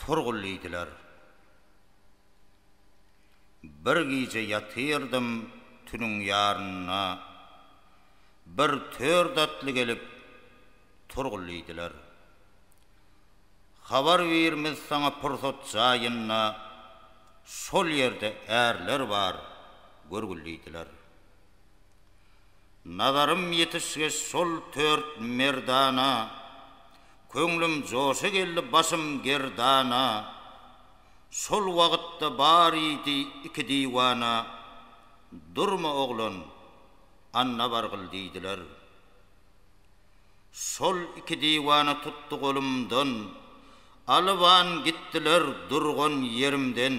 Turgul diýdiler. Bir gije ýatyrdym tünüň ýarynda, bir tört atly gelip Turgul diýdiler. Habar birimiz saňa pursat jaýynda, şol ýerde ärler bar görgül diýdiler. Nazarym ýetişgeç şol tört merdana, Köňlüm joşa geldi başym gerdana. Şol wagtda barydy iki diwana, Durma oglan, anna bargyl diýdiler. Şol iki diwana tutdy golumdan, Alyban gitdiler durgan ýerimden.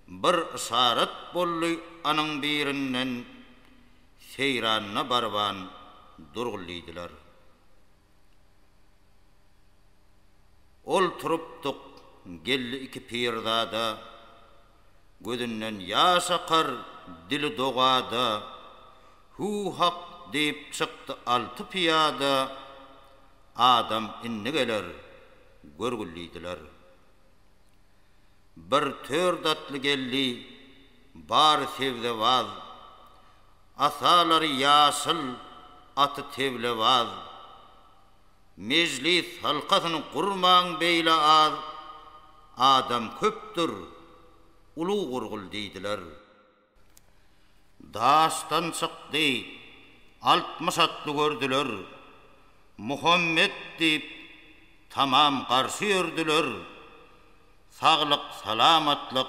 Bir yşarat boldy anyň birinden, Seýranyna barban durgul diýdiler. Ol turupdyk geldi iki pirzada, Gözünden ýaş akar dili dogada, Hu hak diýip çykdy alty pyýada, Adam indi geler görgül diýdiler. Bir tör datly geldi, bary sebzewaz. Asalary ýaşyl, aty teblewaz. Mejlis halkasyn gurmaň beýle az, adam köpdür, uly gurgul diýdiler. Daşdan çykdy, altmyş atly gördüler. Muhammet diýip, tamam garşy ýördüler. Saglyk-salamatlyk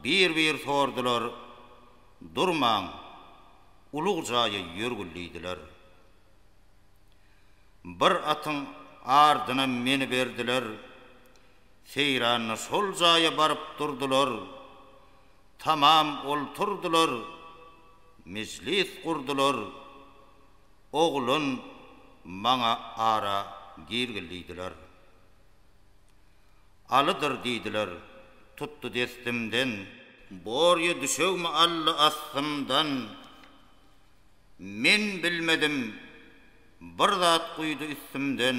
bir-bir sordular. Durmaň, ulyg jaýa ýörgül diýdiler. Bir atyň ardyna meniberdiler. Seýranda şol jaýa baryp durdular. Tamam olturdylar. Mejlis gurdular. Oglan maňa ara girgil diýdiler. Alydyr diýdiler. Tutdy destimden. Borýa düşegmi aldy astymdan. Men bilmedim. Bir zat guýdy üstümden.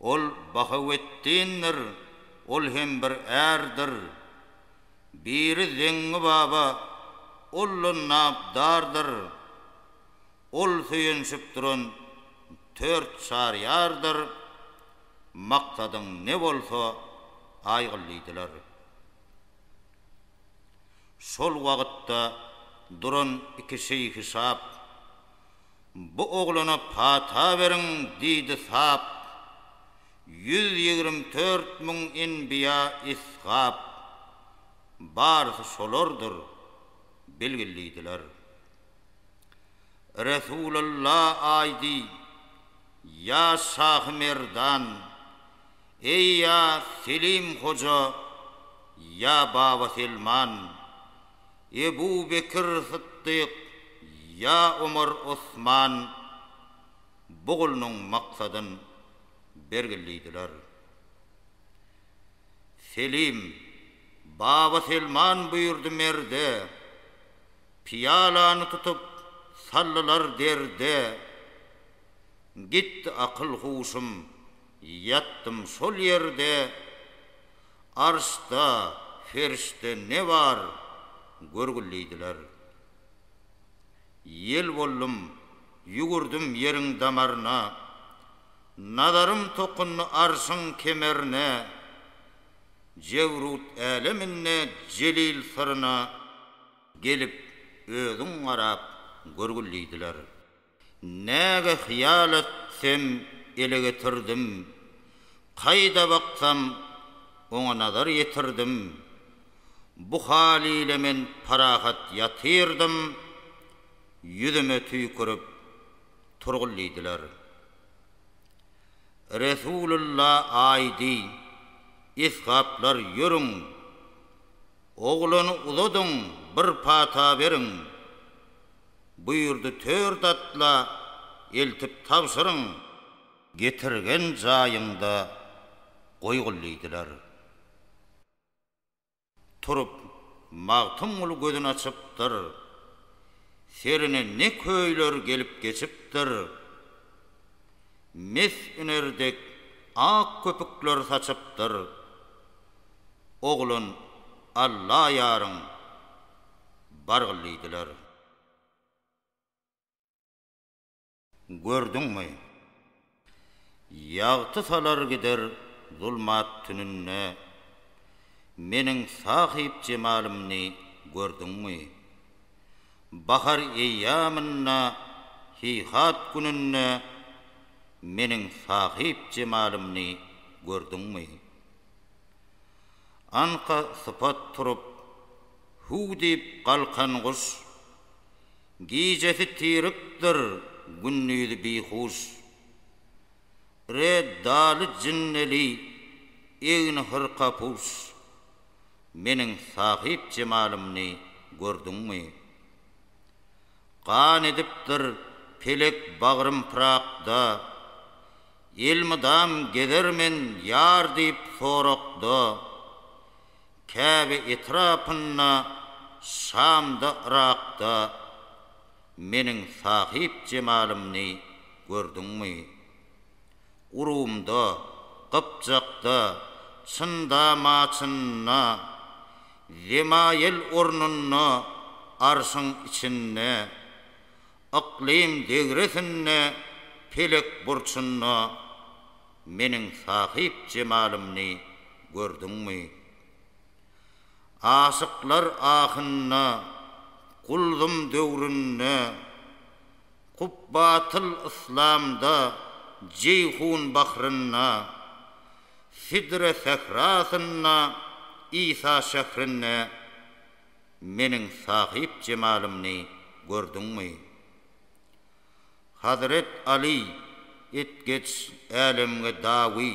Ol Bahaweddindir, ol hem bir ärdir. Biri Zeňňi baba, ol-la Nabdardyr. Ol söýenişip duran Tört Çaryýardyr. Maksadyň ne bolsa, aýgyl diýdiler. Şol wagtda duran iki şeýhi-şap. Bu oglana pata beriň, diýdi Sap. Ýüz ýigrimi dört müň enbiýa Isgap. Barysy şolardyr, bilgillidiler. Resulalla aýdy, Ýa Şahy Merdan, eý ýa Selim Hoja, ýa Baba Selman, Ebu Bekir Syddyk ýa Omar Osman bu gulnuň maksadyn bergillidiler. Selim, Baba Selman buýurdy merde, Pyýalany tutup saldylar derde. Gitdi akyl-huşum, ýatdym şol ýerde, Arsda, ferşde ne bar, görgül diýdiler. Ýel boldum, ýüwürdim ýeriň damaryna, Nazarym tokundy arşyň kemerine, Jebrut äleminde jelil syryna, Gelip, özüň garap, görgül diýdiler. Näge hyýal etsem ele getirdim, Kaýda baksam oňa nazar ýetirdim. Bu hal ile men parahat ýatyrdym, Ýüzüme tüýkürip turgul diýdiler. Resulylla aýdy, Esgaplar ýörüň, Oglany uzadyň, bir pata beriň. Buýurdy tört atla eltip tabşyryň. Getirgen jaýyňda goýgul diýdiler. Turup, Magtymguly gözün açypdyr. Serine ne köýler gelip geçipdir. Mes üner dek ak köpükler saçypdyr. Oglan Allaýaryň. Bargyl diýdiler. Gördüňmi? Ýagty salar gider zulmat tününde Meniň sahyp jemalymny gördüňmi? Bahar eýýamynda heýhat gününde Meniň sahyp jemalymny gördüňmi? Anka sypat turup, Huw diýip galkan guş. Gijesi tirikdir, gündizi bihuş. Re daly jinneli, egni hyrka puş. Meniň sahyp jemalymny gördüňmi? Gan edipdir pelek bagrym pyrakda. Elmydam gezermen ýar diýip sorakda. Käbe etrapynda, Şamda, Yrakda Meniň sahyp jemalymny gördüňmi? Urumda, Gypjakda, Çynda maçynda, Zemaýel ornunda, Arşyň içinde, Yklym degresinde, Pelek burçunda, Meniň sahyp jemalymny gördüňmi? Aşyklar ahynda, Guldum döwründe, Kubbatyl yslamda, Jeýhun bahrynda, Sidre sährasynda, Isa şährinde Meniň sahyp jemalymny gördüňmi? Hazret Aly etgeç älemge dawy.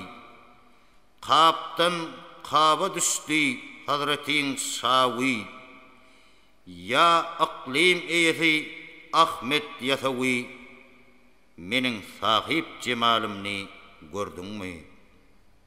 Kapdan kaba düşdi hazretiň şawy. Ýa yklym eýesi Ahmet Ýasawy, meniň sahyp jemalymny gördüňmi?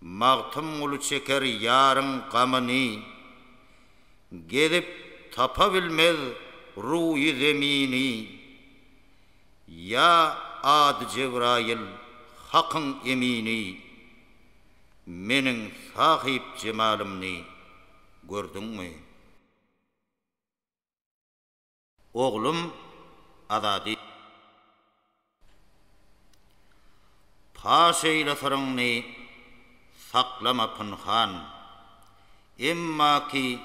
Magtymguly çeker ýaryň gamyny. Gezip tapa bilmez ruýy zemini. Ýa ady Jebraýyl, Hakyň emini. Meniň Sahyp jemalymny gördüňmi? Oglum Azady. Paş eýle syryňny saklama pynhan. Emma ki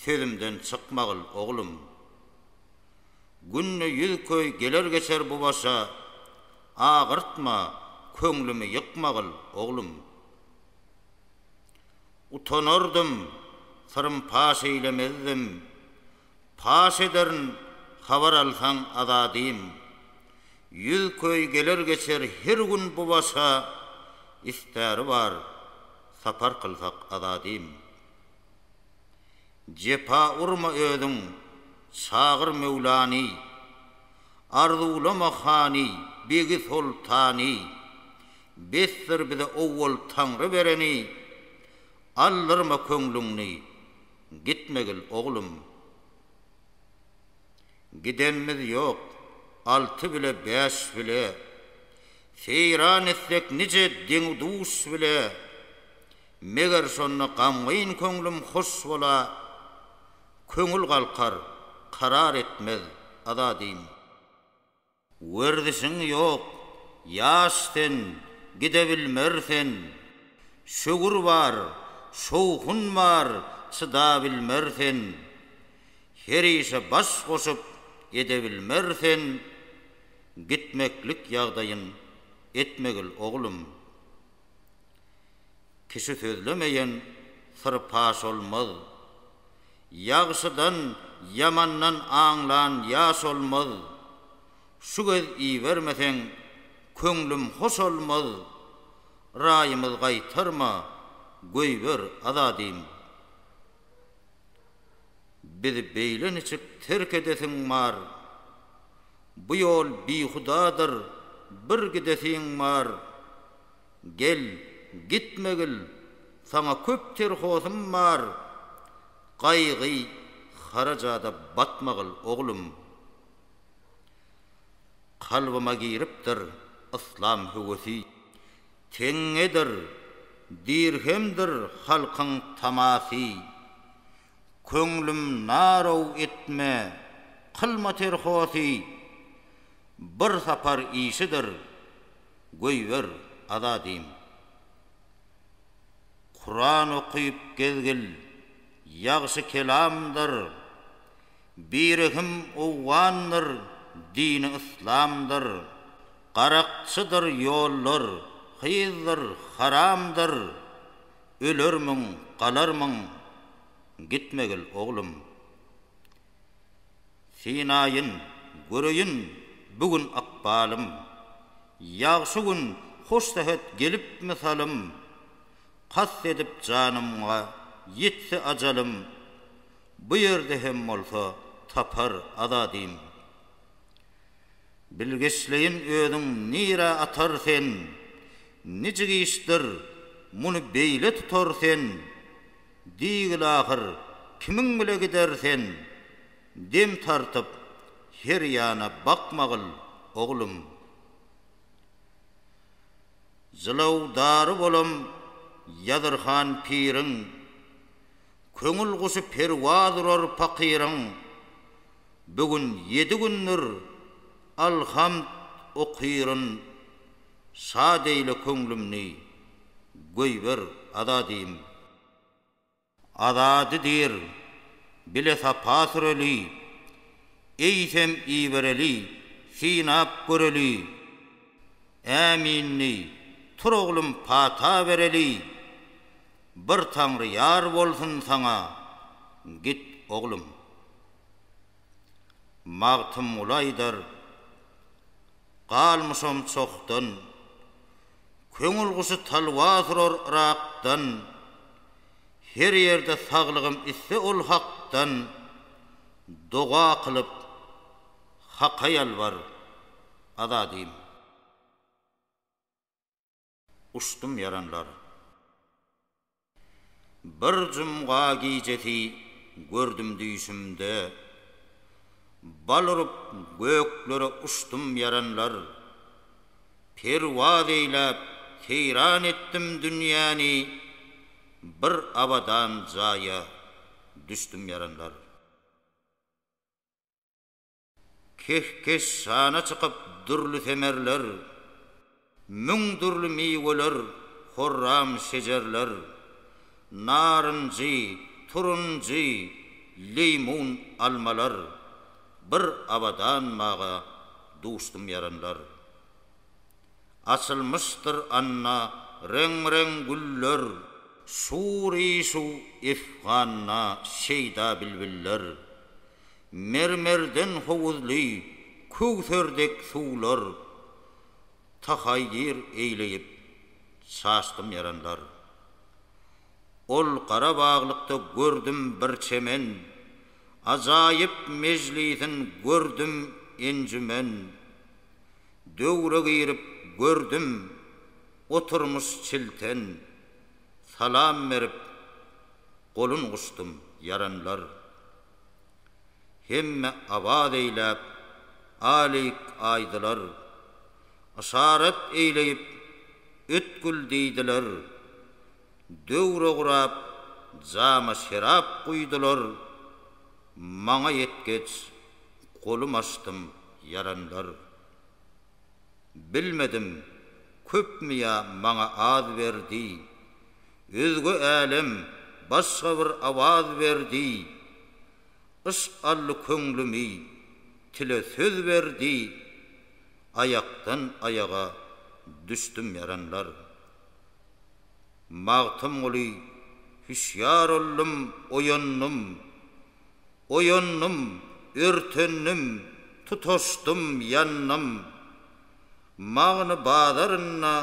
sözümden çykmagyl oglum. Günde ýüz köý geler geçer bu başa, agyrtma, köňlümi ýykmagyl oglum. Utanardym, syrym paş eýlemezdim. Paş ederin habar alsaň Azadym. Ýüz köý geler geçer her gün bu başa Istäri bar sapar kylsak Azadym. Jepa urma özüň çagyr Möwlany Arzuwlama hany begi soltany Besdir bize owwal Taňry bereni Aldyrma köňlüňni Gitmegil, oglum. Gidenimiz ýok. Alty bile, bäş bile. Seýran etsek nije deňi-duş bile. Meger şonda gamgyn köňlüm hoş bola. Köňül galkar, karar etmez, Azadym. Werzišiň ýok, ýaş sen, gidebilmersen, Şöwür bar, şowhun bar, çydabilmersen, Her işe baş goşup edebilmersen, Gitmeklik ýagdaýyň etmegil oglum. Kişi sözlemeýen syr paş olmaz. Ýagşydan, ýamandan aňlan ýaş olmaz. Şu gez ibermeseň, köňlüm hoş olmaz. Raýymyz gaýtarma, goýber azadym. Bizi beýle niçik terk edesiň bar. Bu ýol bihudadyr, bir gidesiň bar. Gel, gitmegil, saňa köp terhosym bar, gaýgy, harajada batmagil, oglum. Kalbyma giripdir yslam höwesi, teňňedir, dirhemdir halkyň tamasy. Köňlüm naraw etme, kylma terhosy, bir sapar işidir. Goýber, Azadym. Kuran okyp gezgil, ýagşy kelamdyr, Birehim owgandyr, dini yslamdyr, Garakçydyr ýollar, hyzdyr, haramdyr, Ölermiň, galarmyň, gitmegil oglum. Synaýyn, göreýin, bu gün ykbalym. Ýagşy gün, hoş sähet gelip mysalym. Kast edip janymga ýetse ajalym. Bu ýerde hem bolsa tapar azadym. Bilgeşleýin özüň nirä atar sen. Nijik işdir, muny beýle tutar sen. Diýgil ahyr, kimiň bile gider sen? Dem tartyp, her ýana bakmagyl, oglum. Jylawdary bolam Ýazyrhan piriň. Köňül guşy perwaz urar pakyryň. Bu gün ýedi gündür, alhamd, okyryn. Şad eýle köňlümni, goýber azadym. Azady diýr, bile sapa süreli. Eýsem ibereli, synap göreli. Äminli, tur oglum pata bereli. Bir Taňry ýar bolsun saňa, git oglum. Magtymguly aýdar, galmyşam çokdan. Köňül guşy talwas urar Yrakdan, Her ýerde saglygym isse ol Hakdan, Doga kylyp, Haka ýalbar, Azadym. Uçdum ýaranlar. Bir jumga gijesi gördüm düýşümde. Bal urup göklere uçdum ýaranlar. Perwaz eýläp seýran etdim dünýäni, bir abadan jaýa düşdüm ýaranlar. Kehkeş şana çykyp dürli semerler, Müň dürli miweler, horram şejerler, Narynjy, turunjy, leýmun, almalar, Bir abadan baga duşdum ýaranlar. Açylmyşdyr anda reň-reň güller, Şur-i-şuw efganda şeýda bilbiller, Mermerden howuzly köwser dek suwlar, Tahaýýir eýleýip, çaşdym ýaranlar. Ol Garabaglykda gördüm bir çemen, Ajaýyp mejlisin gördüm enjümen. Döwre girip gördüm, oturmyş çilten, Salam berip, golun guşdym ýaranlar. Hemme Awaz eýläp, Alik aýdylar. Yşarat eýleýip, Ötgül diýdiler. Döwre gurap, jama şerap guýdular. Maňa ýetgeç, golum açdym, ýaranlar. Bilmedim, köpmi ýa maňa az berdi, Özge älem, başga bir awaz berdi. Yşk aldy köňlümi, tile söz berdi, Aýakdan aýaga düşdüm ýaranlar. Magtymguly, Hüşýar oldum, oýandym. Oýandym, örtendim, tutaşdym, ýandym. Magny bazarynda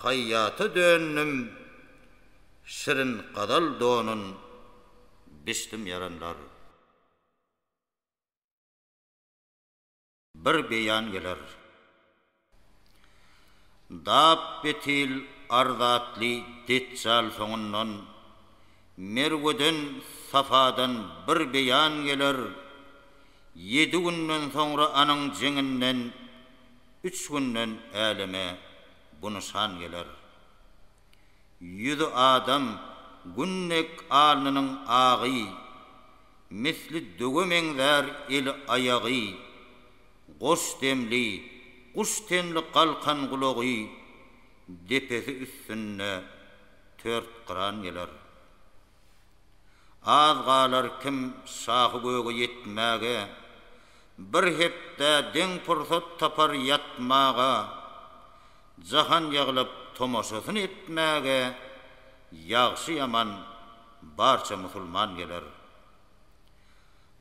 haýýata döndüm. Şirin gazal donun biçdim ýaranlar. bir beýan geler. Dap betil ar zatly Detjal soňundan, Merweden, Safadan bir beýan geler, Ýedi günden soňra anyň jeňinden, Üç günden äleme bu nyşan geler. Ýüzi adam gün dek alnynyň agy, Misli döwe meňzär eli-aýagy. Goş demli, guş tenli galkan gulagy, Depesi üstünde tört gyran geler. Az galar kim şahy göge ýetmäge, Bir hepdä deň pursat tapar ýatmaga. Jahan ýygylyp tomaşasyny etmäge ýagşy-ýaman barça musulman geler.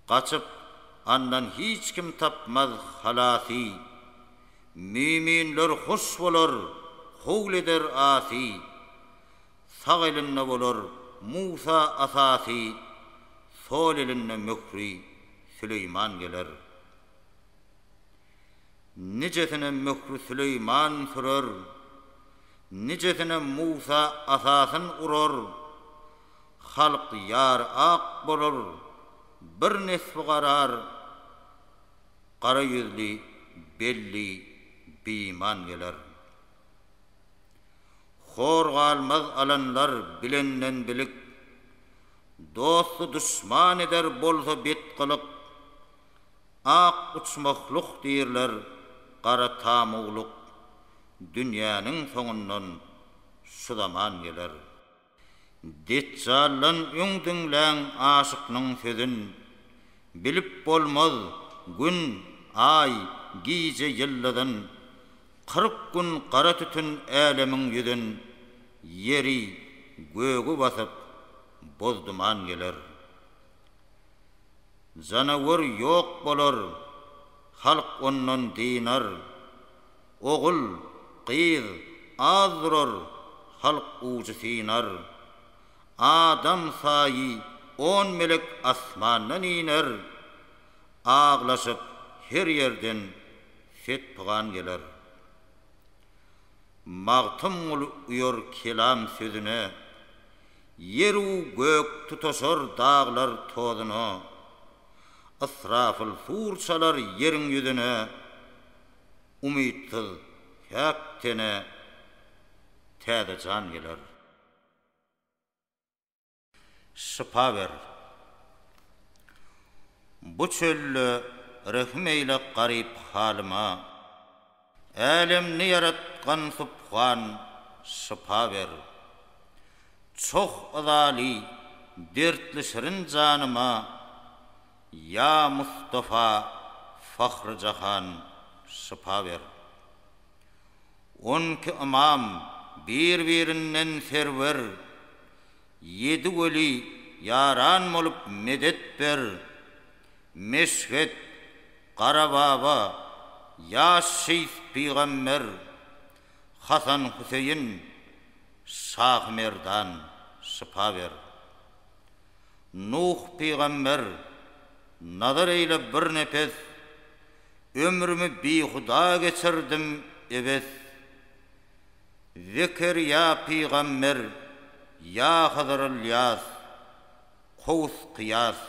Gaçyp, andan hiç kim tapmaz halasy, Müminler hoş bolar, howul eder asy, Sag elinde bolar Musa asasy, Sol elinde möhri Süleýman geler. Nijesine möhri Süleýman sürer, Nijesine Musa asasyn urar. Halk ýar ak bolar, Bir nesbi garar, Gara ýüzli, belli biman geler. Hor galmaz alanlar bilenden bilik, Dosty duşman eder bolsa bet gylyk. Ak uçmakluk diýrler, gara tamuwluk, Dünýäniň soňundan şu zaman geler. Detjaldan öň diňläň aşyknyň sözün, Bilip bolmaz Gün, Aý, gije ýyldyzyn. Kyrk gün gara tütün älemiň ýüzün, Ýeri, gögi basyp, boz duman geler. Janawar ýok bolar, halk ondan dynar. Ogul, gyz az durar, halk ujy synar. Adam saýy on melek asmandan iner. Aglaşyp her ýerden set-pygan geler. Magtymguly uýar kelam sözüne, Ýer-u gök tutaşar daglar tozuna, Ysrafyl sur çalar ýeriň ýüzüne, Umytsyz, päk tene täze jan geler. Şypa ber. Bu çölde rehim eýle garyp halyma. Älemni ýaratgan Subhan şypa ber. Çoh yzaly dertli şirin janyma Ýa Mustafa Fahry Jahan şypa ber. On iki ymam bir birinden serwer Ýedi weli ýaran bolup medet ber. Meşhet Garababa, ýaş şeýh pygamber, Hasan Hüseýin, Şahymerdan, şypa ber. Nuh pygamber, nazar eýle bir nepes, Ömrümi bihuda geçirdim ebes. Zekerýa pygamber, ýa Hyzyr-Ylýas, Kowus Kyýas,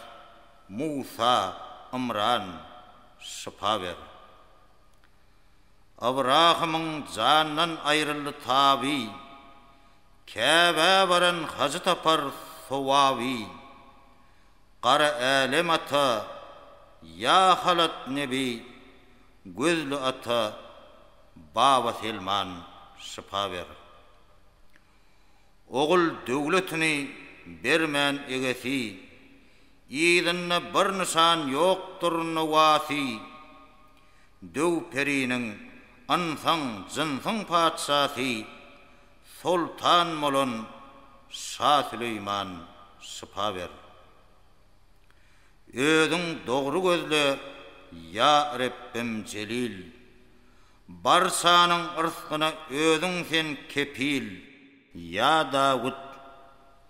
Musa, Ymran, şypa ber. Ybrahymyň jandan aýryldy taby, Käbä baran hajy tapar sowaby. Gara Älem ata, ýa halat nebi, Gözli ata, Baba Selman, şypa ber. Ogul döwletini bermän egesi, Yzynda bir nyşan ýokdur nowasy. Döw periniň, ynsan, jynsyň patyşasy, Soltan bolan Şa Süleýman şypa ber. Özüň dogry gözle, ýa Rebbim jelil, Barsanyň yrsgyna özüň sen kepil. Ýa Dawut,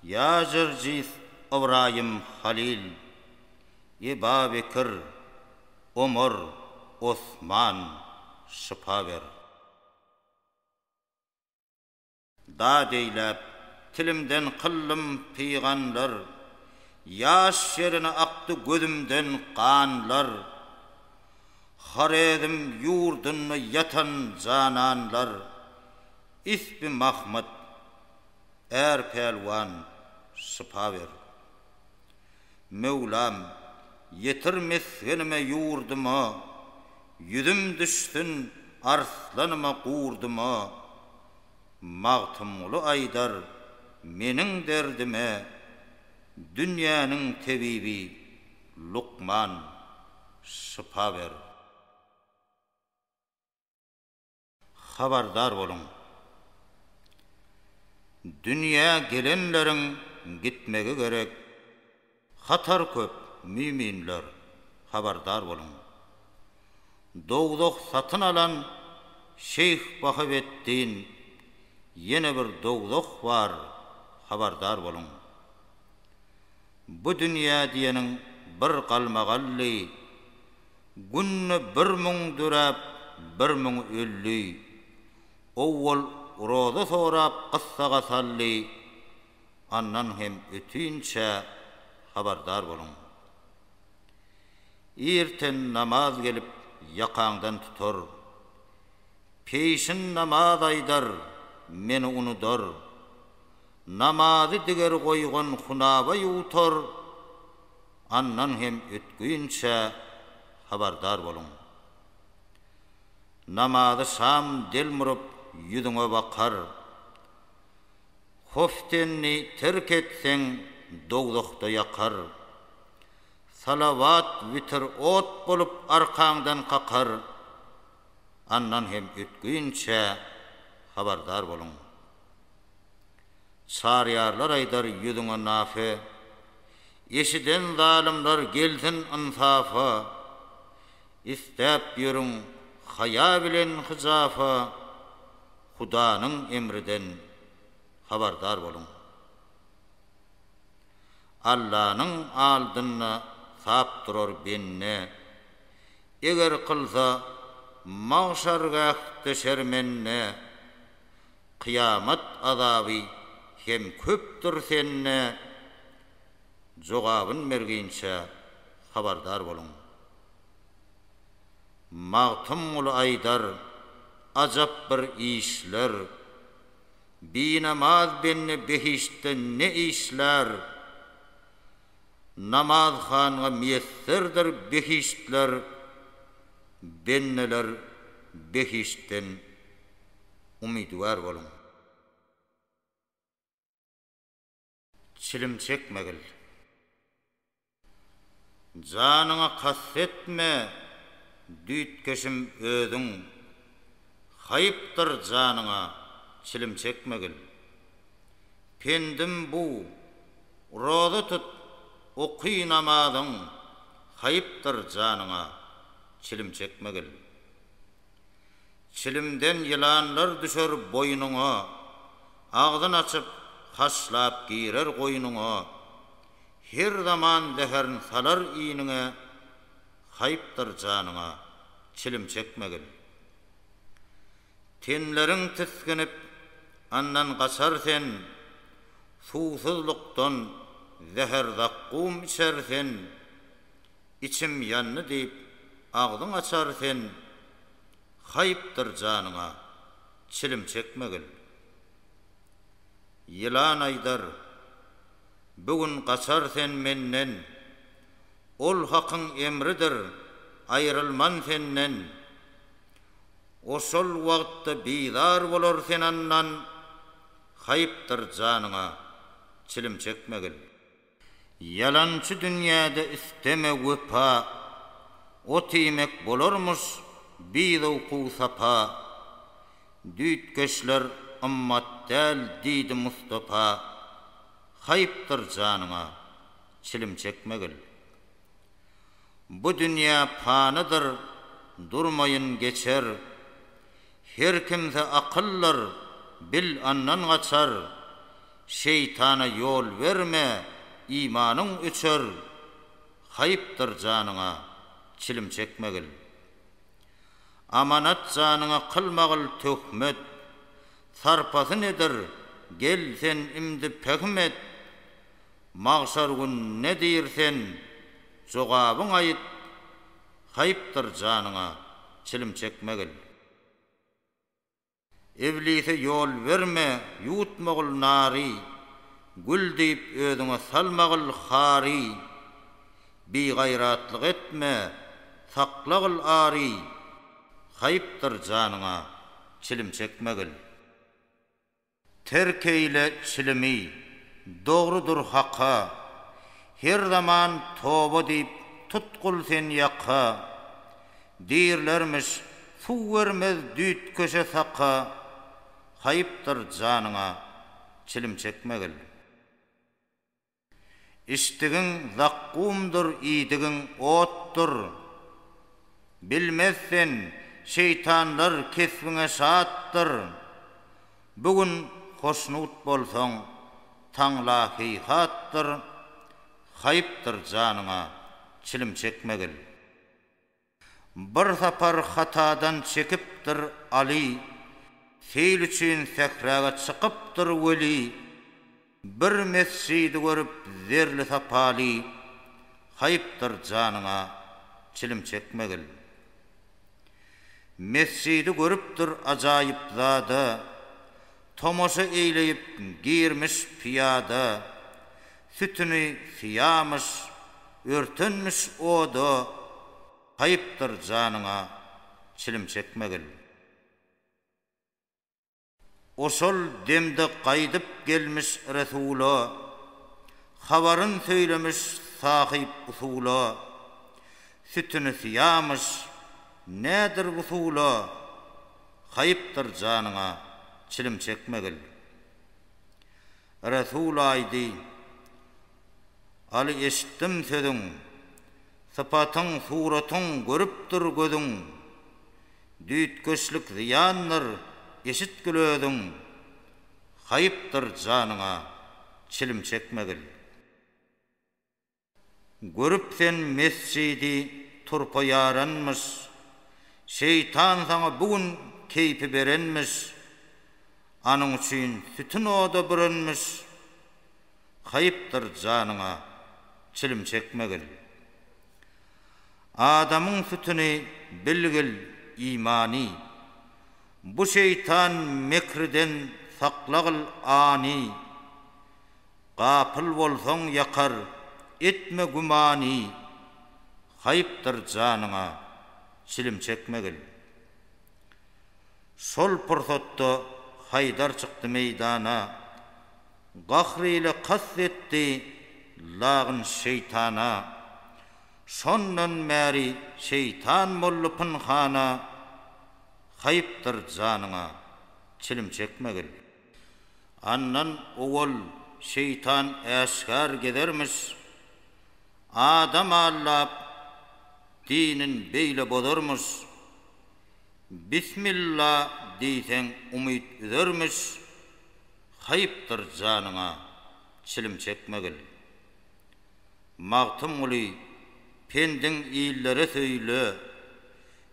ýa Jyrjys, Ybraýym, Halyl. Eba Bekir, Omar, Osman, şypa ber. Dad eýläp, tilimden kyllym pyganlar, Ýaş ýerine akdy gözümden ganlar. Horezm ýurdunda ýatan jananlar, Isbi Mahmyt, är pälwan, şypa ber. Möwlam, ýetir mesgenime ýurduma, Ýüzüm düşsün arslanyma gurduma. Magtymguly aýdar meniň derdime Dünýäniň tebibi lukman şypa ber. Habardar boluň! Dünýä gelenleriň gitmegi gerek. Hatar köp, müminler, habardar boluň! Dowzah satyn alan Şeýh Bahaweddin Ýene bir dowzah bar, habardar boluň! Bu dünýä diýeniň bir galmagally, Günde bir müň düräp, bir müň ölli. Owwal roza sorap gyssagha sally, Andan hem ötünçä habardar boluň. Irten namaz gelip ýakaňdan tutar. Peýşin namaz aýdar, meni unudar. Namazy diger goýgan hunaba ýuwtar. Andan hem ötgünçä habardar boluň. Namazy şam delmuryp ýüzüňe bakar. Hoftenni terk etseň dowzahda ýakar. Salawat witir ot bolup arkaňdan kakar. Andan hem ötgünçe habardar boluň. Çaryýarlar aýdar ýüzüňe nafe. Eşiden zalymlar gelsin ynsafa. Isläp ýörüň haýa bilen hyjafa. Hudanyň emriden habardar boluň. Allanyň aldynda sap durar bende. Eger kylsa, magşargähde şermende. Kyýamat azaby hem köpdür sende. Jogabyn berginçe habardar boluň. Magtymguly aýdar, Ajap bir işler. Binamaz bende behiştde ne işlär? Namaz hanga miýesserdir behiştler, Bendeler behiştden umydywar boluň. Çilim çekmegil. Janyňa kast etme, düýtgeşim özüň. Haýypdyr janyňa, çilim çekmegil. Pendim bu, roza tut, oky namazyň, haýypdyr janyňa, çilim çekmegil. Çilimden ýylanlar düşer boýnuňa, Agzyn açyp, haşlap girer goýnuňa. Her zaman zäherin salar iniňe, Haýpdyr janyňa, çilim çekmegin. Tenleriň tisginip, andan gaçar sen, Suwsuzlykdan zäher-zakgum içer sen. Içim ýandy diýip agzyň açar sen, Haýpdyr janyňa çilim çekmegil. Ýylan aýdar, Bu gün gaçar sen menden, Ol Hakyň emridir, aýrylman senden. Oşol wagtda bizar bolar sen andan, Haýpdyr janyňa çilim çekmegil. Ýalançy dünýäde isteme wepa, Ot iýmek bolarmyş bizowku sapa. Düýtgeşler ymmat däl diýdi Mustapa. Haýpdyr janyňa, çilim çekmegil. Bu dünýä panydyr, durmaýyn geçer, Her kimse akyllyr, bil andan gaçar, Şeýtana ýol berme, imanyň öçer, Haýpdyr janyňa, çilim çekmegil. Amanat janyňa kylmagil töhmet, Sarpasy nedir, gel sen imdi pähim et, Magşar gün ne diýr sen, jogabyň aýyt, Haýpdyr janyňa çilim çekmegil. Iblise ýol berme, ýutmagil nary, Gül diýip özüňe salmagil hary. Bigaýratlyk etme, saklagil ary, Haýpdyr janyňa çilim çekmegil. Terk eýle çilimi, dogrudyr Haka, Her zaman toba diýip, tutgul sen ýaka. Diýrlermiş, suw bermez düýtkeşe saka, Haýypdyr janyňa, çilim çekmegil. Içdigiň zakkumdyr, iýdigiň otdur. Bilmez sen, şeýtanlar kesbiňe şatdyr. Bu gün hoşnut bolsaň, taňla heýhatdyr. Haýypdyr janyňa çilim çekmegil. Bir sapar hatadan çekipdir Aly, Seýil üçin sähräge çykypdyr weli. Bir mesjidi görüp zerli sapaly, Haýpdyr janyňa çilim çekmegil. Mesjidi görüpdir ajaýyp zada, Tomaşa eýleýip girmiş pyýada. Sütüni syýamyş, örtenmiş oda, Haýypdyr janyňa çilim çekmegil. Oşol demde gaýdyp gelmiş Resula, Habaryn söýlemiş sahyp usula. Sütüni syýamyş, nädir wusula, Haýypdyr janyňa çilim çekmegil. Resul aýdy, Aly eşitdim sözüň, Sypatyň, suratyň görüpdir gözüň, Düýtgeşlik zyýandyr, eşitgil özüň, Haýypdyr janyňa, çilim çekmegil. Görüp sen mesjidi turpa ýaranmyş, Şeýtan saňa bu gün keýpi berenmiş, Anyň üçin sütün oda bürenmiş, Haýypdyr janyňa çilim çekmegil. Adamyň sütüni bilgil imany, Bu şeýtan mekriden saklagl any, Gapyl bolsaň ýakar, etme gümany, Haýpdyr janyňa, çilim çekmegil. Şol pursatda Haýdar çykdy meýdana, Gahr ile kast etdi lagyn şeýtana. Şondan bäri şeýtan boldy pynhana, Haýpdyr janyňa, çilim çekmegil. Andan owal şeýtan äşgär gezermiş, Adam allap, dinin beýle bozarmyş. Bismilla diýseň umyt üzermiş, Haýpdyr janyňa çilim çekmegil. Magtymguly, pendiň illere söýle,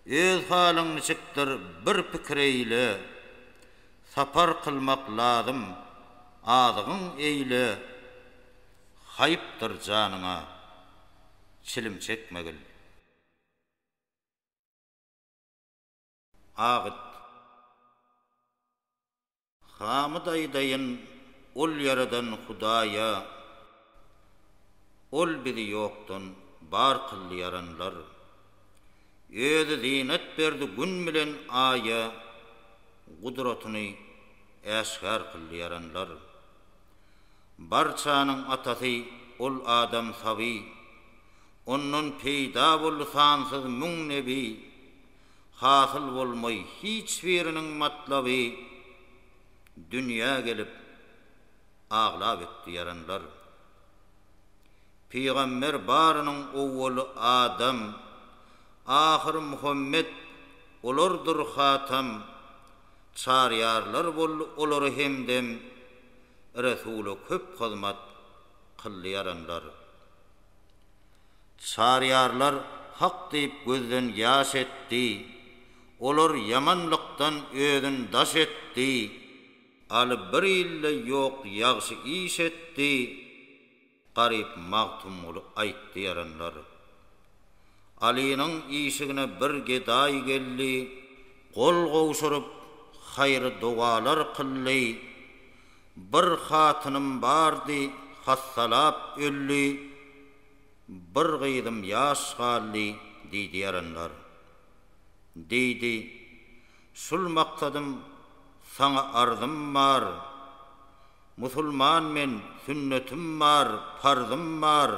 Öz halyň niçikdir bir pikir eýle, Sapar kylmak lazym azygyň eýle haýpdyr janyňa çilim çekmegil. Agyt. Hamyt aýdaýyn ol ýaradan Hudaýa. Ol bizi ýokdan bar kyldy ýaranlar. Özi zynat berdi Gün bilen Aýa, Gudratyny äşgär kyldy ýaranlar. Barçanyň Atasy Ol Adam Saby, Ondan peýda boldy sansyz müň nebi. Hasyl bolmaý hiç biriniň matlaby, Dünýä gelip, Aglap etdi ýaranlar. Pygamber barynyň owwaly adam, ahyry Muhammet, olardyr hatam, Çaryýarlar boldy olary hemdem, Resula köp hyzmat kyldy ýaranlar. Çaryýarlar hak diýip gözden ýaş etdi, Olar ýamanlykdan özün daş etdi. Aly bir ilde ýok ýagşy iş etdi garyp Magtymguly aýtdy ýaranlar. Alynyň işigine bir gedaý geldi gol gowşuryp haýry dogalar kyldy Bir hatynym bardy hassalap öldi Bir gyzym ýaş galdy diýdi ýaranlar. Diýdi. Şul maksadym saňa arzym bar Musulman men sünnetim bar parzym bar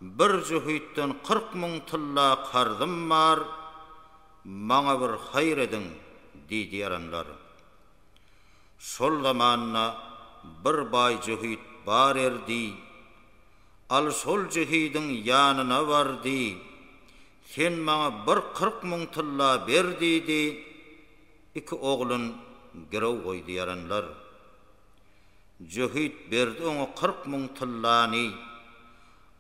Bir jühütden kyrk müň tylla karzym bar Maňa bir haýyr ediň diýdi ýaranlar Şol zamanda bir baý jühüt bar erdi Al şol jühüdiň ýanyna bar diý Sen maňa bir kyrk müň tylla ber diýdi, iki oglun girew goýdy ýaranlar. Jöhit berdi oňa kyrk müň tyllany.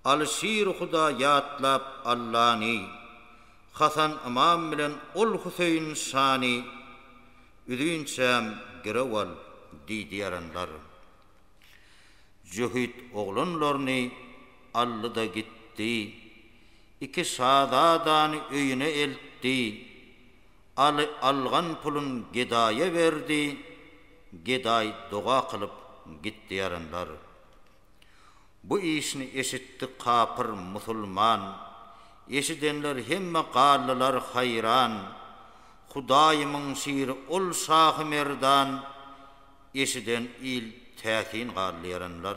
Alyşir Huda ýatlap Allany, Hasan ymam bilen ol Hüseýin şany, Üzünçäm girew al diýdi ýaranlar. Jöhit oglanlaryny aldy-da gitdi. Iki şazadany öýüne eltdi. Aly algan pulun gedaýa berdi. Gedaý doga kylyp gitdi. Ýaranlar bu işini eşitdi kapyr musulman. Eşidenler hemme galdylar haýran. Hudaýymyň şiri ol şahy merdan eşiden il täsin galdy erenler.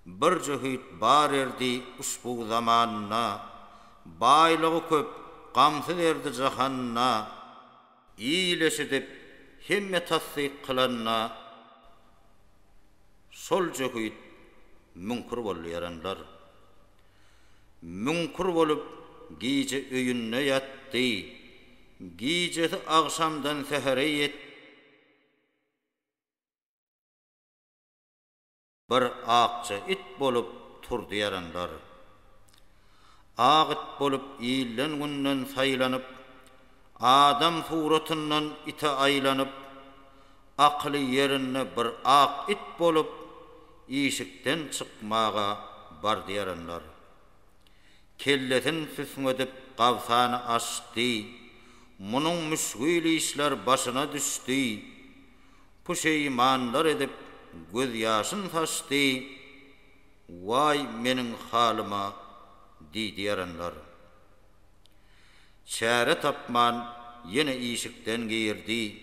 Bir jöhit bar erdi uşbu zamanda, baýlygy köp, gamsyz erdi jahanda. Il eşidip, hemme tassyk kylanda, şol jöhit müňkür boldy erenler. Müňkür bolup, gije öýünde ýatdy. Gijesi agşamdan sähere ýetdi. Bir akja it bolup turdy ýaranlar. Ak it bolup ilden günden saýlanyp, adam suratyndan ite aýlanyp, akyly ýerinde bir ak it bolup işikden çykmaga bardyaranlar. Kellesin süsňedip gabsany açdy, munuň müşgil işler başyna düşdi, puşeýmanlar edip göz ýaşyn saçdy, waý meniň halyma diýdyaranlar. Çäre tapman, ýene işikden girdi.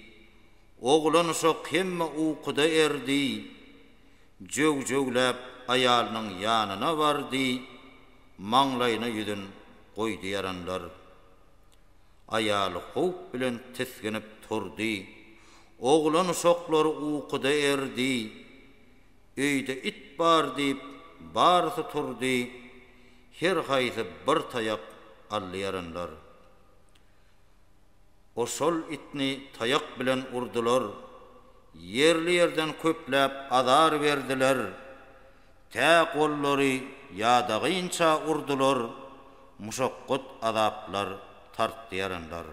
Oglanuşak hemme ukuda erdi. Jöw-jöwläp aýalynyň ýanyna bardy, maňlaýyna ýüzün goýdy ýaranlar. Aýaly howp bilen tisginip turdy. Oglanuşaklary ukuda erdi. Öýde it bar diýip barysy turdy, her haýsy bir taýak alýaranlar. Oşol itni taýak bilen urdular, ýerli ýerden köpläp azar berdiler, tä gollary ýadagynça urdular, muşakgat azaplar tartýaranlar.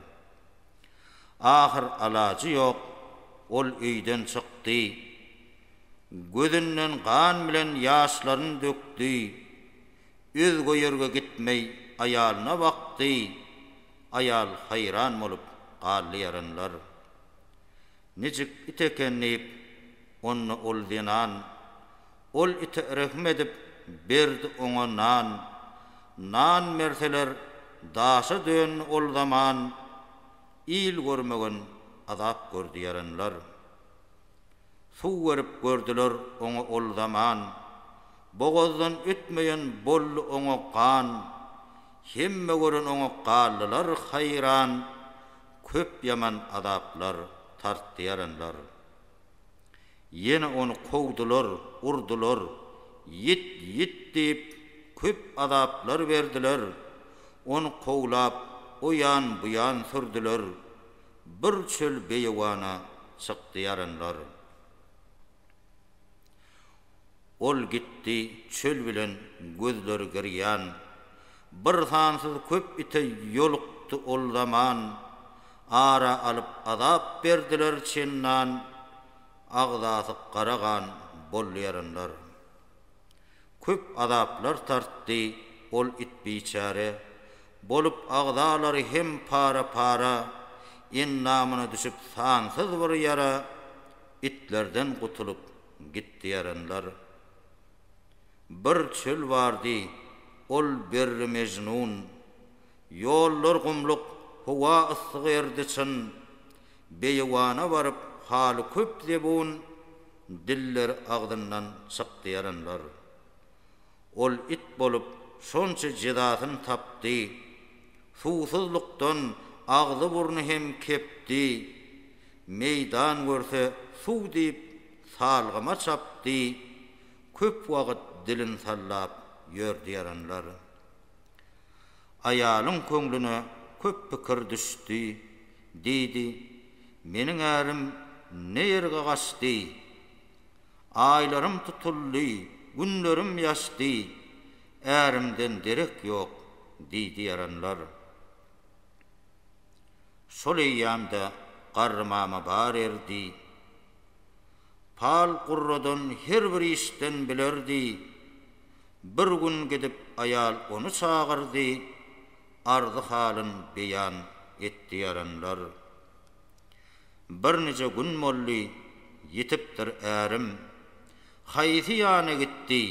Ahyr alajy ýok, ol öýden çykdy, Gözünden gan bilen ýaşlaryn dökdi, Özge ýerge gitmeý aýalyna bakdy, Aýal haýran bolup galdy ýaranlar. Nijik it eken diýip, onda ol zenan, Ol ite rehim edip, berdi oňa nan. Nan berseler, daşa döndi ol zaman, Il görmegen azap gördi ýaranlar. Suw berip gördüler oňa ol zaman, Bogazdan ötmeýän boldy oňa gan. Hemme gören oňa galdylar haýran, Köp ýaman azaplar tartdy ýaranlar. Ýene ony kowdular, urdular, Ýit, ýit diýip, köp azaplar berdiler. Ony kowlap, o ýan, bu ýan sürdüler. Bir çöl beýewana çykdy ýaranlar. Ol gitdi çöl bilen gözleri girýan. Bir sansyz köp ite ýolukdy ol zaman. Ara alyp azap berdiler çendan. Agzasy gara gan boldy ýaranlar. Köp azaplar tartdy ol it biçäre. Bolup agzalary hem para-para, endamyna düşüp sansyz bir ýara, itlerden gutulyp gitdi ýaranlar. Bir çöl bardy, ol Berri Mejnun. Ýollar gumluk, howa yssyk erdi çyn. Beýewana baryp haly köp zebun, dilleri agzyndan çykdy ýaranlar. Ol it bolup şonça jezasyn tapdy. Suwsuzlykdan agzy-burny hem kepdi. Meýdan görse suw diýip salgyma çapdy. Köp wagyt dilin sallap ýördi ýaranlar. Aýalyň köňlüne köp pikir düşdi. Diýdi, Meniň ärim ne ýerge gaçdy? Aýlarym tutuldy, günlerim ýaşdy, Ärimden derek ýok, diýdi ýaranlar. Şol eýýamda Garry mama bar erdi. Pal gurradan her bir işden bilerdi. Bir gün gidip aýal ony çagyrdy, arzy-halyn beýan etdi ýaranlar. Birnije gün boldy, ýitipdir ärim. Haýsy ýana gitdi,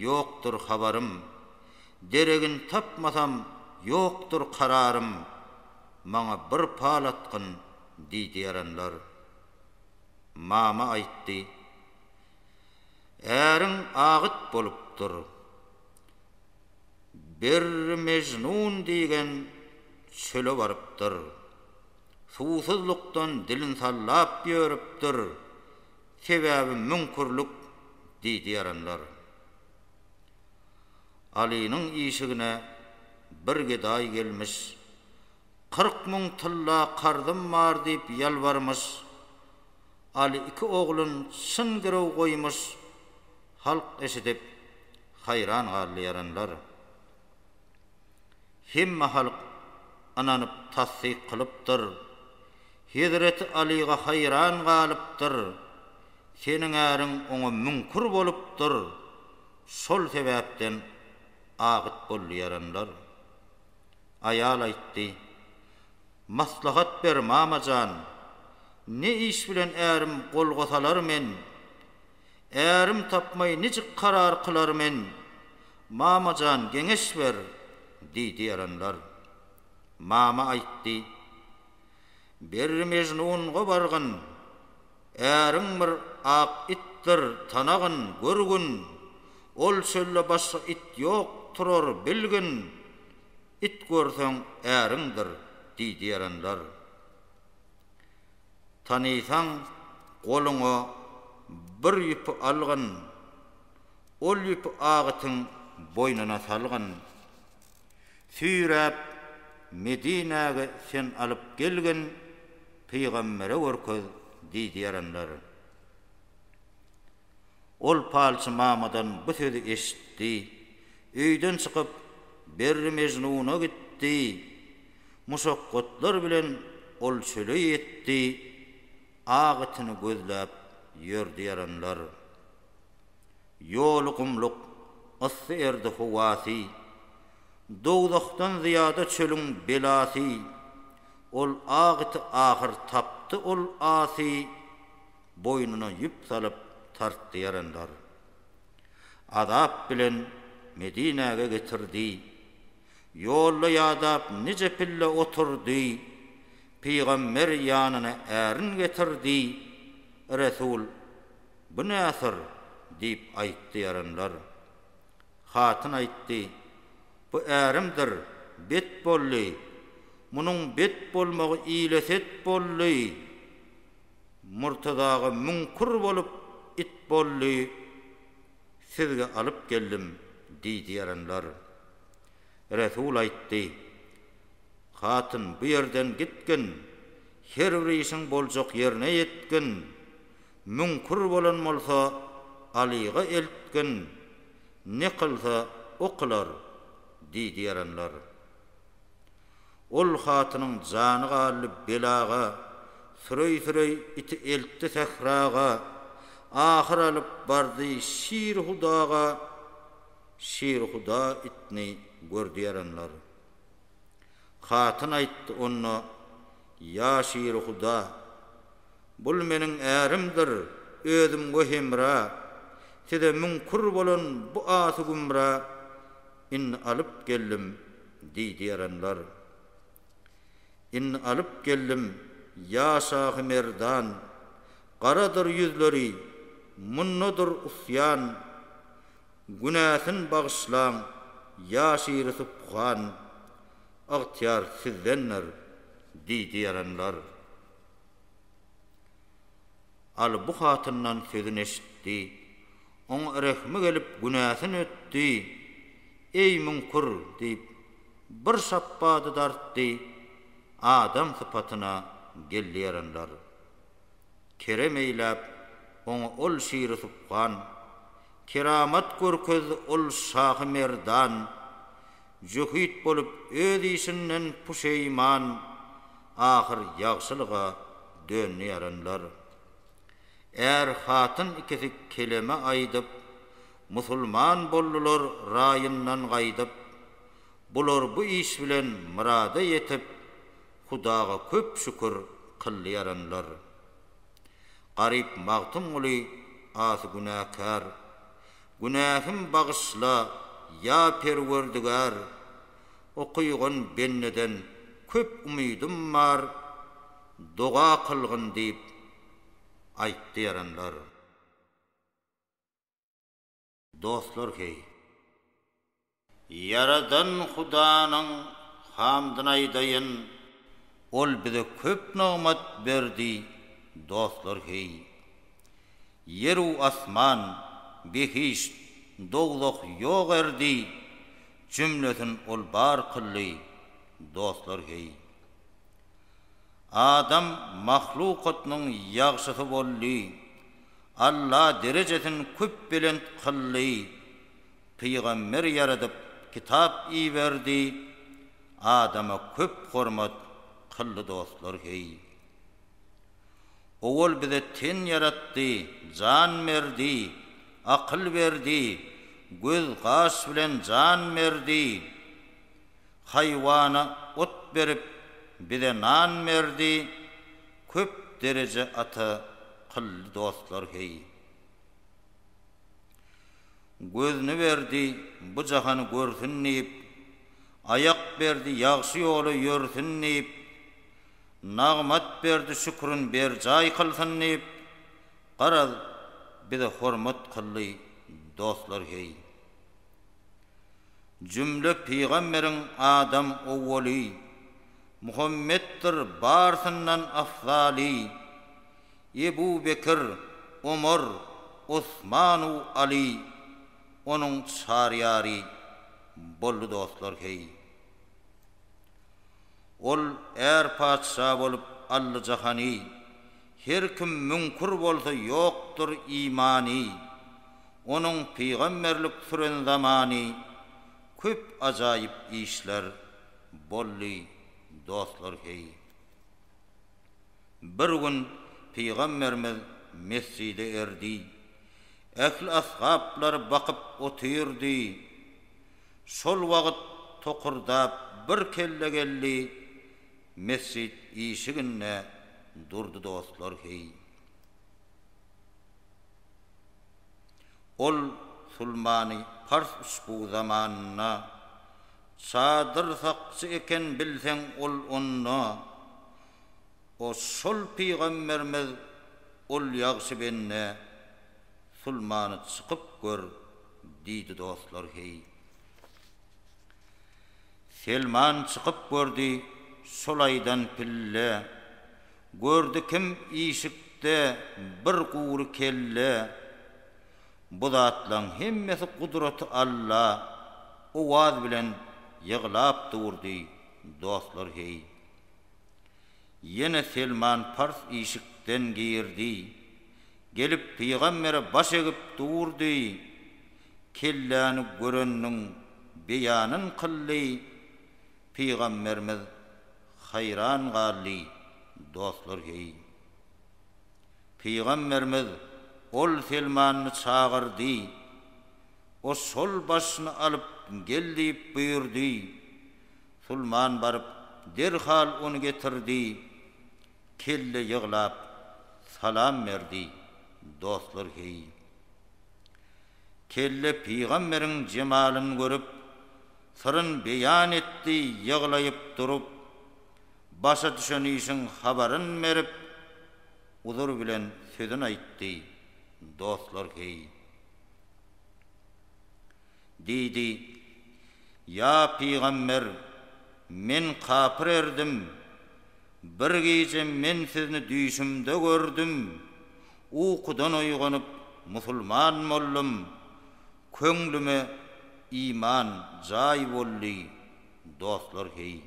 ýokdur habarym. Deregin tapmasam, ýokdur kararym. Maňa bir pal atgyn, diýdi ýaranlar. Mama aýtdy. Äriň agyt bolupdyr. Berri Mejnun diýgen çöle barypdyr. Suwsuzlykdan dilin sallap ýörüpdir, sebäbi müňkürlik diýdi ýaranlar. Alynyň işigine bir gedaý gelmiş, Kyrk müň tylla karzym bar diýip ýalbarmyş. Aly iki oglun çyn girew goýmuş. Halk eşidip, haýran galdy ýaranlar. Hemme halk ynanyp tassyk kylypdyr. Hezreti Alyga haýran galypdyr. Seniň äriň oňa müňkür bolupdyr. Şol sebäpden agyt boldy ýaranlar. Aýal aýtdy, Maslahat ber, mama jan. Ne iş bilen ärim golga salar men? Ärim tapmay nijik karar kylar men? Mamajan geňeş ber, diýdi erenler. Mama aýtdy. Berri Mejnun gobargyn. Äriň bir ak itdir, tanagyn, görgün. Ol çölde başga it ýok, turar, bilgin. It görseň äriňdir, diýdi erenler. Tanysaň, goluňa bir ýüpi algyn, Ol ýüpi agytyň boýnuna salgyn. Süýräp, Medinäge sen alyp gelgin, Pygambere görkez, diýdiýerenler. Ol palçy mamadan bu sözi eşitdi. Öýden çykyp, Berri Mejnuna gitdi. Muşakgatlar bilen ol çöle ýetdi. Ak itini gözläp ýördi ýaranlar. Ýoly gumluk, yssy erdi howasy. Dowzahdan zyýada çölüň belasy. Ol ak iti ahyr tapdy ol asy. Boýnuna ýüp salyp tartdy ýaranlar. Azap bilen Medinäge getirdi. Ýolda ýadap nije pille oturdy. Pygamber ýanyna ärin getirdi. Resul, Bu näsir? diýip aýtdy ýaranlar. Hatyn aýtdy, Bu ärimdir, bet boldy. Munuň bet bolmagy ile-set boldy. Murtaza aga müň kür bolup it boldy sizge alyp geldim diýdi ýaranlar. Resul aýtdy. Hatyn bu ýerden gitgin her bir işiň boljak ýerine ýetgin müň kür bolan bolsa Alyga eltgin ne kylsa o kylar diýdi ýaranlar. Ol hatynyň jany galdy belaga, Süreý-süreý iti eltdi sähraga, Ahyr alyp bardy Şirhudaga, Şirhuda itni gördi ýaranlar. Hatyn aýtdy onda, Ýa Şirhuda, Bul meniň ärimdir, özümge hemra, Size müňkür bolan bu aty-gümra, Indi alyp geldim, diýdi erenler. Indi alyp geldim, ýa şahy merdan, Garadyr ýüzleri, mundadyr usýan. Günäsin bagyşlaň, ýa şiri subhan, Ygtyýar sizdendir, diýdi erenler. Aly bu hatyndan sözün eşitdi. Oňa rehmi gelip günäsin ötdi. Eý müňkür! diýip, bir şapbady dartdy, Adam sypatyna geldi erenler. Kerem eýläp, oňa ol şiri subhan, Keramat görkezdi ol şahy merdan, Jöhit bolup öz işinden puşeýman, ahyr ýagşylyga döndi ýaranlar. Är-hatyn ikisi keleme aýdyp, musulman boldular raýyndan gaýdyp. Bular bu iş bilen myrada ýetip, Hudaga köp şükür kyldy ýaranlar. Garyp Magtymguly asy günäkär, Günähim bagyşla, ýa Perwerdigär, Okygan bendeden köp umydym bar, Doga kylgyn diýip, aýtdy ýaranlar. Dostlar, heý! Ýaradan Hudanyň hamdyny aýdaýyn, Ol bize köp nygmat berdi, dostlar heý. Ýer-u asman, behişt, dowzah ýok erdi, Jümlesin Ol bar kyldy, dostlar heý. Adam mahlukatynyň ýagşysy boldy, Alla derejesin köp belent kyldy, Pygamber ýaradyp kitap iberdi adama köp hormat kyldy dostlar heý Owal bize ten ýaratdy jan berdi akyl berdi göz gaş bilen jan berdi haýwana ot berip bize nan berdi köp dereje ata kyldy dostlar heý. Gözüni berdi, bu jahany görsün diýip, Aýak berdi, ýagşy ýola ýörsün diýip, Nagmat berdi, şükrün berjaý kylsyn diýip, Garaz, bize hormat kyldy, dostlar, heý. Jümle pygamberiň adam owwaly, Muhammetdir, barsyndan afzaly. Ebu Bekr, Omar, Osmanu Aly onuň çar ýary boldy dostlar heý. Ol är patyşa bolup aldy jahany, her kim müňkür bolsa ýokdur imany, onuň pygamberlik süren zamany köp ajaýyp işler boldy dostlar heý. Bir gün Pygamberimiz mesjide erdi. Ähli ashaplary bakyp otyrdy. Şol wagyt tokurdap bir kelle geldi, mesjit işiginde durdy dostlar heý. Ol Sulmany Pars uçbugy zamanynda Sadyr sakçy eken bilseň ol onda o şol pygambermiz ol ýagşy bende sulmany çykyp gör diýdi dostlar heý Selman çykyp gördi şol aýdan pille gördi kim işikde bir gury kelle Bu zatlaň hemmesi gudraty Alla owaz bilen ýyglap durdy, dostlar heý. Ýene Selman Pars işikden girdi. Gelip pygambere baş egip durdy. Kelläni göreniniň beýanyn kyldy. Pygamberimiz haýran galdy, dostlar heý. Pygamberimiz ol Selmanyny çagyr diý. O şol başyny alyp gel diýip buýurdy. Sulman baryp derhal ony getirdi. Kelle ýyglap salam berdi. Dostlar heý. Kelle pygamberiň jemalyny görüp, syryn beýan etdi ýyglaýyp durup, Başa düşen işiň habaryn berip, uzur bilen sözün aýtdy, Dostlar, heý! Diýdi, Ýa pygamber, men kapyr erdim. Bir gije men sizni düýşümde gördüm. Ukudan oýganyp, musulman boldum. Köňlüme iman jaý boldy, Dostlar, heý!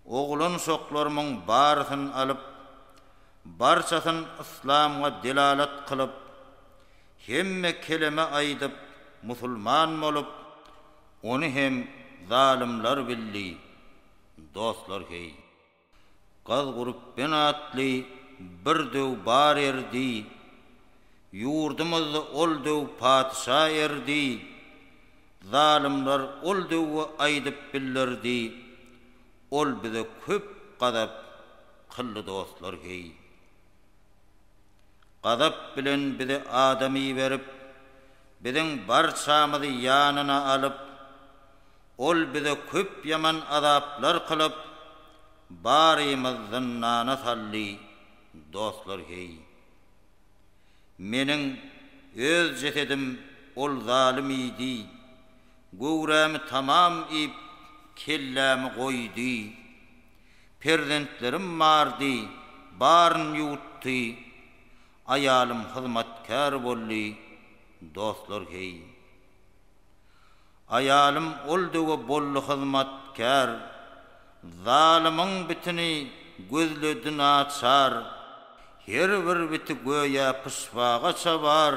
Oglanşoklarymyň barysyn alyp, barçasyn yslamga delalat kylyp, hemme keleme aýdyp, musulman bolup, ony hem zalymlar bildi, dostlar heý. Gaz Gurupben atly bir döw bar erdi, ýurdumyzda ol döw patyşa erdi, Zalymlar ol döwü aýdyp billerdi, Ol bize köp gazap kyldy dostlar heý. Gazap bilen bize adam iberip, Biziň barçamyzy ýanyna alyp, Ol bize köp ýaman azaplar kylyp, Barymyz zyndana saldy dostlar heý. Meniň öz jesedim ol zalym iýdi, göwrämi tamam iýip, kellämi goýdy. Perzentlerim bardy, baryny ýuwutdy, aýalym hyzmatkär boldy, dostlar heý, Aýalym ol döwe bolly hyzmat kär, Zalymyň bitini gözledi naçar. Her bir biti göýä pyşbaga çabar,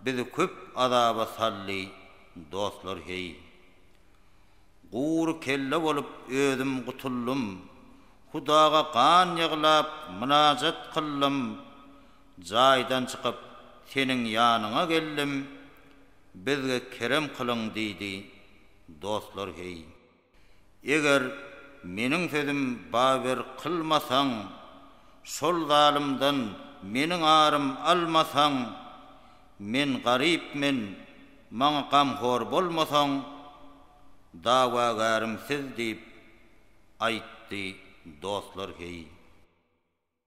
Bizi köp azaba saldy dostlar heý. Gury kelle bolup özüm gutuldym, Hudaga gan ýyglap mynajat kyldym, Jaýdan çykyp, seniň ýanyňa geldim, bizge kerem kylyň, diýdi. Dostlar, heý. Eger meniň sözüm baber kylmasaň, şol zalymdan meniň arym almasaň, men garyp men, maňa gamhor bolmasaň, dawagärim siz, diýip, aýtdy. Dostlar, heý.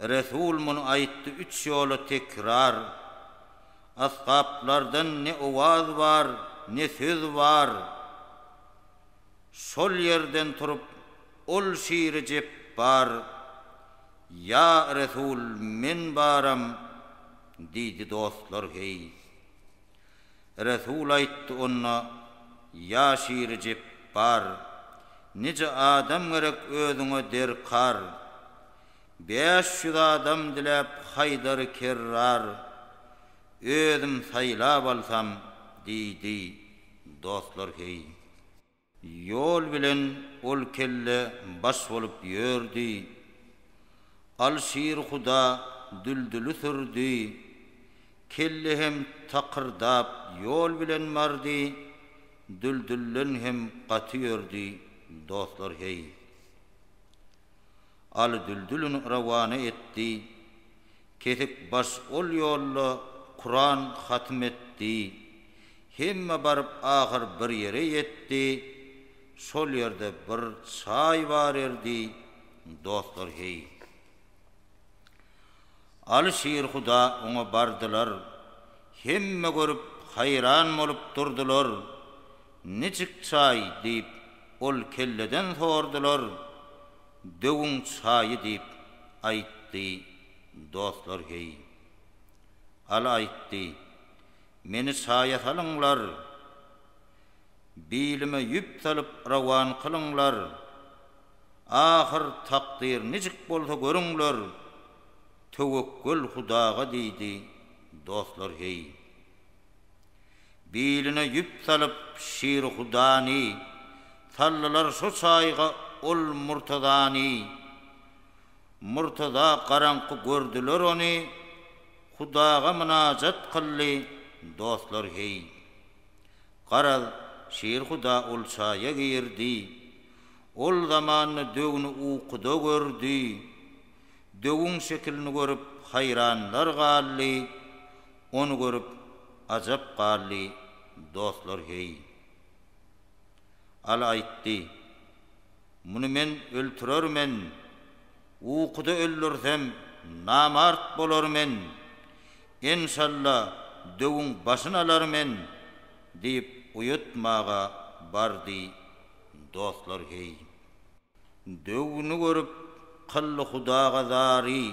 Resul muny aýtdy üç ýola tekrar. Asgaplardan ne owaz bar, ne söz bar. Şol ýerden turup, ol şiri jep bar. Ýa Resul, men baram! diýdi dostlar heý. Resul aýtdy onda, Ýa şiri jepbar, nije adam gerek özüňe derkar? Bäş ýüz adam diläp Haýdary Kerrar, özüm saýlap alsam, diýdi, Dostlar, heý! Ýol bilen ol kelle baş bolup ýördi. Alşirhuda düldüli sürdi. Kelle hem takyrdap ýol bilen bardy, düldülden hem gaty ýördi, dostlar heý. Aly düldülini rawana etdi. Kesik baş ol ýolda Kuran hatym etdi. Hemme baryp ahyr bir ýere ýetdi, şol ýerde bir çaý bar erdi, dostlar heý. Aly şir huda oňa bardylar, hemme görüp haýran bolup durdylar, Nijik çaý diýip ol kelleden sordylar, Döwüň çaýy diýip aýtdy, dostlar heý. Aly aýtdy. Meni saýa salyňlar, Bilime ýüp salyp rowan kylyňlar, Ahyr takdyr nijik bolsa görüňler, Töwekgel Hudaga diýdi dostlar heý. Biline ýüp salyp şiri Hudany, Saldylar şo çaýga ol Murtazany, Murtaza garaňky gördüler ony, Hudaga mynajat kyldy, Dostlar heý! Garaz, Şirhuda ol çaýa girdi, Ol zamanda döwni ukuda gördi. Döwüň şekilini görüp haýranlar galdy, Ony görüp ajap galdy, Dostlar heý! Al aýtdy. Muny men öltürermen. Ukuda öldürsem, namart bolarmen. Enşalla, döwüň başyn alarmen, diýip uýutmaga bardy. Dostlar heý. Döwüni görüp, kylly hudaga zary.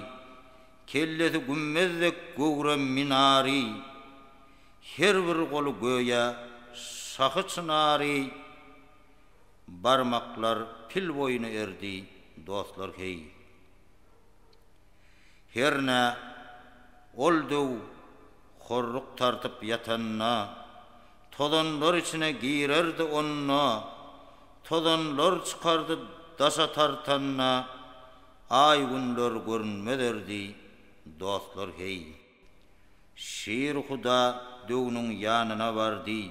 Kellesi gümmez dek göwre minary. Her bir goly göýä şahy çynary Barmaklar pil boýuna erdi, dostlar, heý. Hernä, ol döw horruk tartyp ýatanda, Tozanlar içine girerdi onda, Tozanlar çykardy daşa tartanda, Aý-günler görünmez erdi, dostlar, heý. Şirhuda döwüniň ýanyna bardy.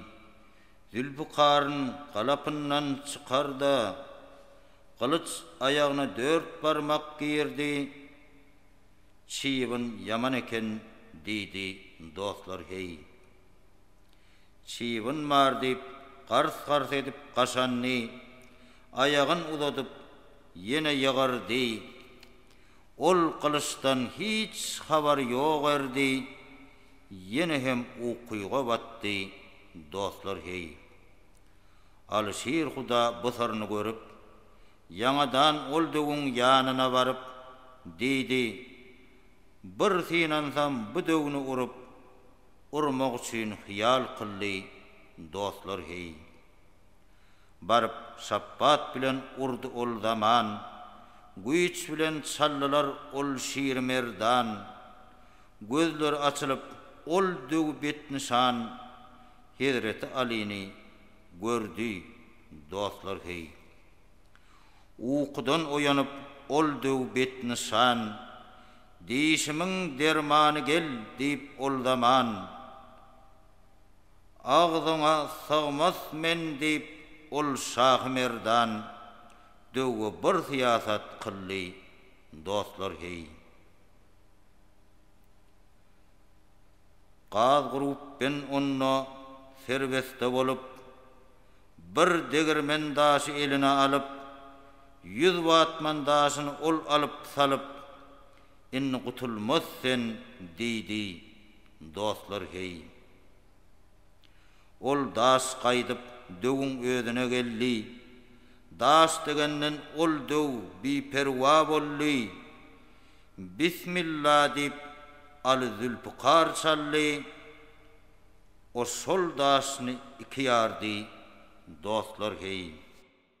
Zülpikaryn galapyndan çykar-da, gylyç aýagyna dört barmak girdi, Çybyn ýaman eken, diýdi, Dostlar, heý! Çybyn bar, diýip, gars-gars edip gaşandy, aýagyn uzadyp, ýene ýygyrdy. Ol Gylyçdan hiç habary ýok erdi, ýene hem ukyga batdy, Dostlar, heý! Alyşir huda bu syryny görüp, ýaňadan ol döwüň ýanyna baryp, diýdi, Bir synansam bu döwni urup, urmak üçin hyýal kyldy, Dostlar, heý! Baryp şapbat bilen urdy ol zaman, Güýç bilen çaldylar ol şiri merdan. Gözleri açylyp, ol döw betnyşan, Hezreti Alyny gördi dostlar heý. Ukudan oýanyp, ol döw betnyşan, Dişimiň dermany gel diýip ol zaman, Agzyňa sygmaz men diýip ol Şahymerdan döwwe bir syýasat kyldy dostlar heý. Gaz gurup ben onda serbesde bolup bir degirmen daşy eline alyp ýüz watman daşyny ol alyp salyp indi gutulmaz sen diýdi. Dostlar heý. Ol daş gaýdyp döwüň özüne geldi, Daş degenden ol döw biperwa boldy. Bismilla diýip Aly Zülpükar çaldy, O şol daşyny iki ýardy, dostlar heý.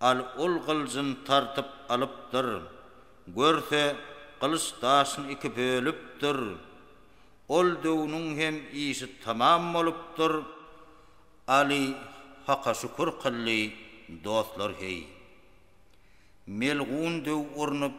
Al, ol gylyjyn tartyp alypdyr. Görse, gylyç daşyny iki bölüpdir. Ol döwüniň hem işi tamam bolupdyr. Aly, Haka şükür kylly, dostlar-heý. Melgun döw urnup,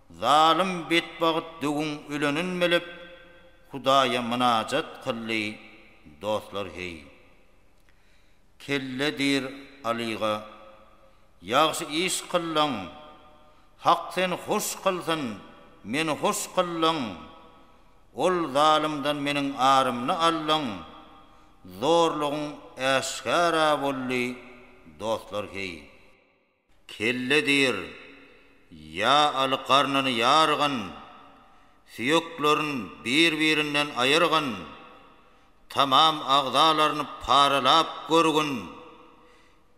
Zalym betbagt döwüň ölenin bilip Hudaýa mynajat kyldy dostlar heý. Kelle diýr Alyga, Ýagşy iş kyldyň, Hak seni hoş kylsyn, meni hoş kyldyň, Ol zalymdan meniň arymny aldyň, Zorlugyň äşgara boldy dostlar heý. Kelle diýr, ýa aly garnyny ýargyn, süýeklerin bir-birinden aýyrgyn, tamam agzalaryny paralap görgün,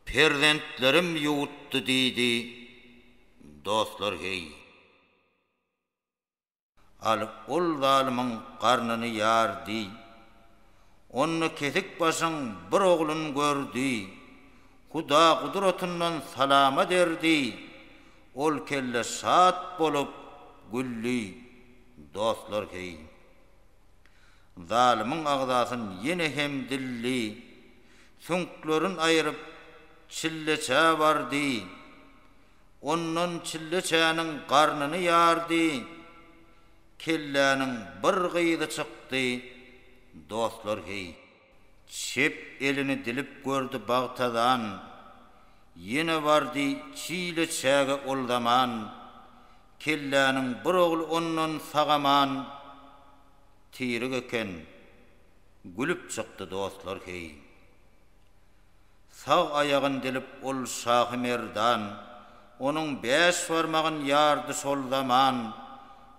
perzentlerim ýuwutdy diýdi. Dostlar heý. Alyp ol zalymyň garnyny ýar diý. Onda kesik başyň bir oglun gör diý. Huda gudratyndan salama der diý. Ol kelle şat bolup güldi. Dostlar heý. Zalymyň agzasyn ýene hem dildi. Süňklerin aýryp çilleçä bar diý. Ondan çilleçäniň garnyny ýardy. Kelläniň bir gyzy çykdy. Dostlar heý. Çep elini dilip gördi Bagtazan. Ýene bardy çileçäge ol zaman. Kelläniň bir ogly ondan sagaman. Tirik eken. Gülüp çykdy dostlar heý. Sag aýagyn dilip ol Şahymerdan, Onuň bäş barmagyn ýardy şol zaman,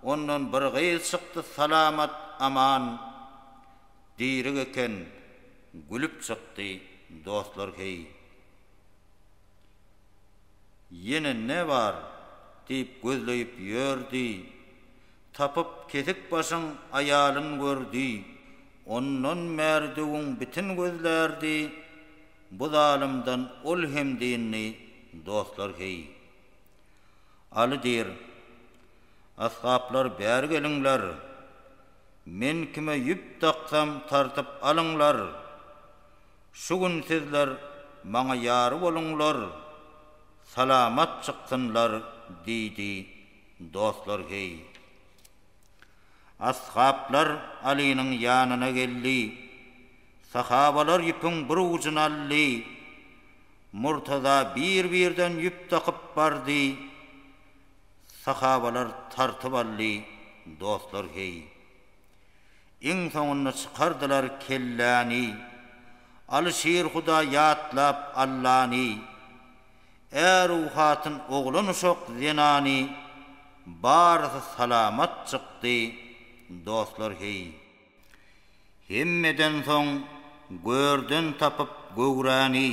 Ondan bir gyz çykdy salamat, aman. Dirik eken, gülüp çykdy, dostlar, heý. Ýene ne bar? diýip gözleýip ýördi, Tapyp kesik başyň aýalyn gördi, ondan Märdüwiň bitin gözlärdi, bu zalymdan ol hem dyndy, dostlar heý. Aly diýr, Asgaplar bäri geliňler, men kime ýüp daksam tartyp alyňlar, şu gün sizler maňa ýar boluňlar, salamat çyksynlar diýdi. Dostlar heý. Ashablar Alynyň ýanyna geldi. Sahabalar ýüpüň bir ujuny aldy. Murtaza bir-birden ýüp dakyp bardy. Sahabalar tartyp aldy. Dostlar heý. Iň soňunda çykardylar kelläni. Aly Şirhuda ýatlap Allany. Är-u hatyn, oglan-uşak, zenany, barysy salamat çykdy, dostlar heý. Hemmeden soň görden tapyp göwräni,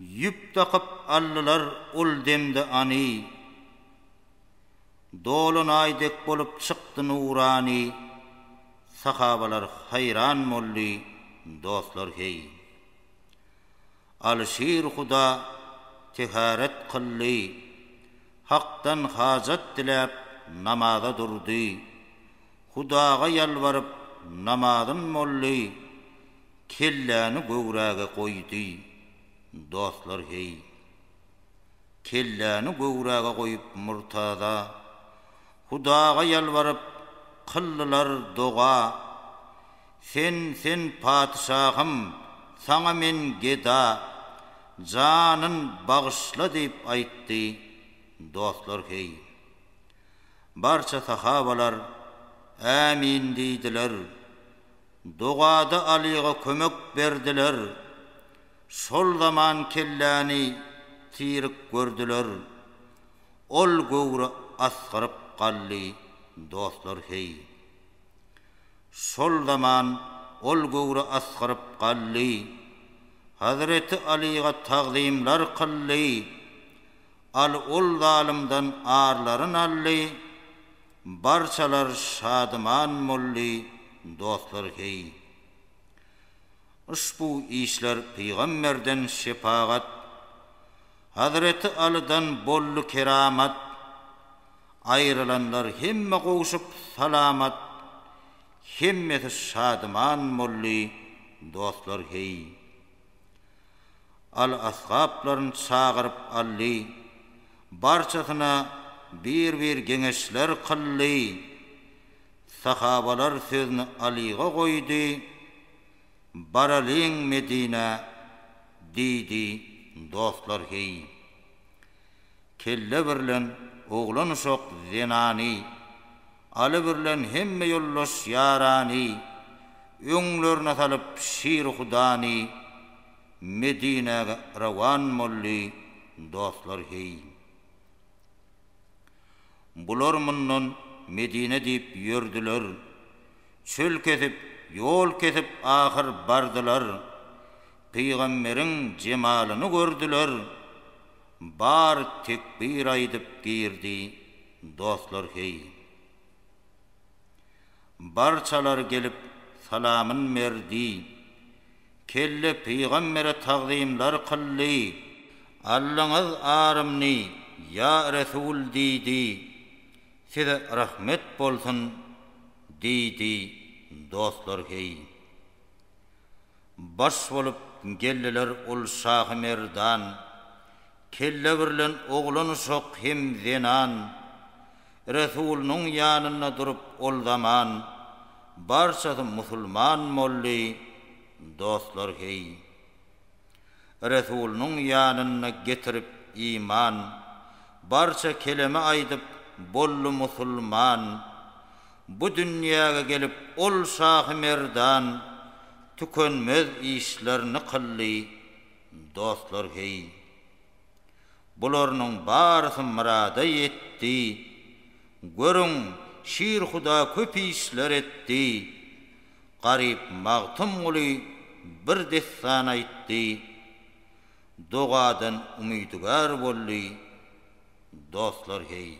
ýüp dakyp aldylar ol demde any. Dolanaý dek bolup çykdy nurany, sahabalar haýran boldy, dostlar heý. Alyşir huda teharet kyldy. Hakdan hajat diläp namaza durdy. Hudaga ýalbaryp namazyn boldy. Kelläni göwräge goýdy. Dostlar heý. Kelläni göwräge goýup murtada. Hudaga ýalbaryp kyldylar doga. Sen, sen patyşahym, saňa men geda, janyn bagyşla diýip aýtdy. Dostlar heý. Barça sahabalar, Ämin diýdiler. Dogada Alyga kömek berdiler. Şol zaman kelläni tirik gördüler. Ol göwre asgyryp galdy. Dostlar heý. Şol zaman ol göwre asgyryp galdy. Hazreti Alyga tagzymlar kyldy. Aly ol zalymdan arlaryn aldy. Barçalar şadyman boldy, dostlar heý. Yşbu işler pygamberden şepagat. Hazreti Alydan bolly keramat, Aýrylanlar hemme gowşup salamat, Hemmesi şadyman bolly dostlar heý. Aly asgaplaryn çagyryp aldy, Barçasyna bir-bir geňeşler kyldy. Sahabalar sözüni Alyga goýdy. Baralyň Medinä, diýdi, dostlar, heý. Kelle birlen oglan-uşak, zenany, Aly birlen hemme ýoldaş, ýarany, Öňlerine salyp şiri hudany, Medinäge rowan boldy, dostlar, heý. Bular mundan Medine diýip ýördüler, Çöl kesip, ýol kesip ahyr bardylar, Pygamberiň jemalyny gördüler, Bar tekbir aýdyp girdi dostlar heý. Barçalar gelip salamyn berdi, Kelle pygambere tagzymlar kyldy. Aldyňyz arymny ýa resul diýdi, Size rahmet bolsun diýdi dostlar heý. Baş bolup geldiler ol şahy merdan, Kelle birlen oglan uşak hem zenan, Resulynyň ýanynda durup ol zaman, Barçasy musulman boldy dostlar heý. Resulynyň ýanynda getirip iman, Barça keleme aýdyp, boldy musulman. Bu dünýäge gelip ol şahy merdan, Tükenmez işlerini kyldy, dostlar heý. Bularnyň barysy myrada ýetdi, Görüň, Şir Huda köp işler etdi. Garyp Magtymguly bir dessan aýtdy, Dogadan umydygär boldy, dostlar heý.